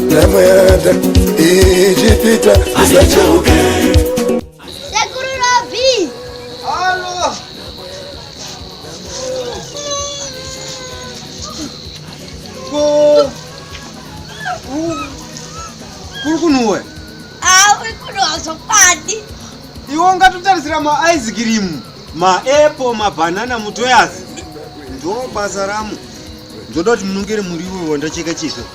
namwada ichipita isacheuke kuri kunhuwe auri kunhuwa zvokwadi iwe ungatutarisira maice cream maapple mabhanana mutoyazi ndo basa ramu ndoda kuti munongere muriwo wandacheka chizvo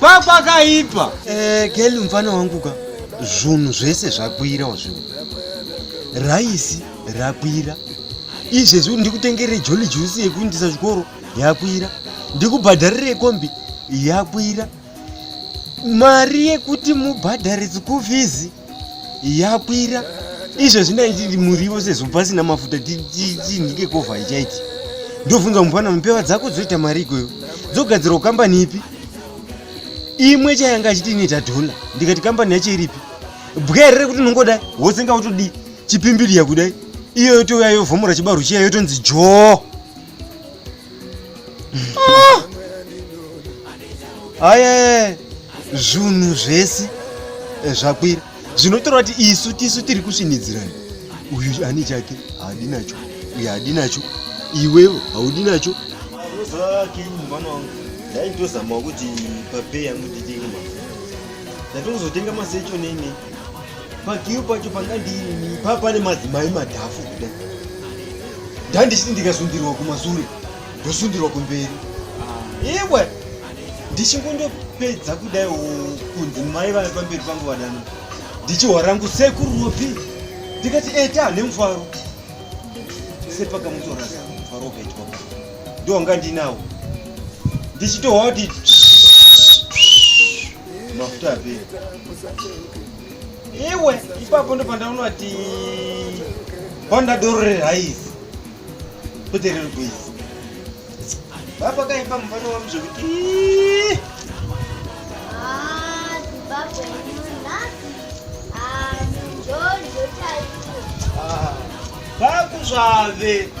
kwakwakaipa eh, geli mfana wangu ka zvunhu zvese zvakwira wazvinhu raisi rakwira izvezvi ndikutengerei joli jusi yekuindisa chikoro yakwira ndikubhadharirei kombi yakwira mari yekuti mubhadhare school fees yakwira izvo zvinaiti muriwo sezvo pasina mafuta tinhike kovha ichaiti ndobvunza mupana mupeva dzako dzoita mari ikoyo dzogadzirwa kukambani ipi imwe chayanga achiti ine tadhona ndikati kambani yacho iripi bwere rekuti unongoda wose nga utodii chipimbiriya kudai iyo yotouya yovhomora chibarwo chiya yotonzi joo Ah! Aye zvunhu zvese eh, zvakwira zvinotorwa kuti isu tisu tiri kusvinidzirana uyu ani chake haadi nacho uyu haadi nacho iwevo haudi nacho ndaitozamawo kuti papeya mudidima ndatongozotenga masecho nene pakiyo pacho panga ndiinini pa pane madzimai madhafu kuda ndandisiti ndikasundirwa kumasure ndosundirwa kumberi iwe ndichingondopedza kudai kunzi mai vave pamberi pangu vadana ndichihwa rangu sekuru ropi ndikati eta nemufaro sepakamutorasa mufaro wakaitwa ndiwanga ndinawo ndichitohwa kuti mafuta api iwe ipapo ndo pandaona ti honda doro rerhaisi kuti riri kuisa baba kaipa mufana wam zvekuti vakuzvave ah,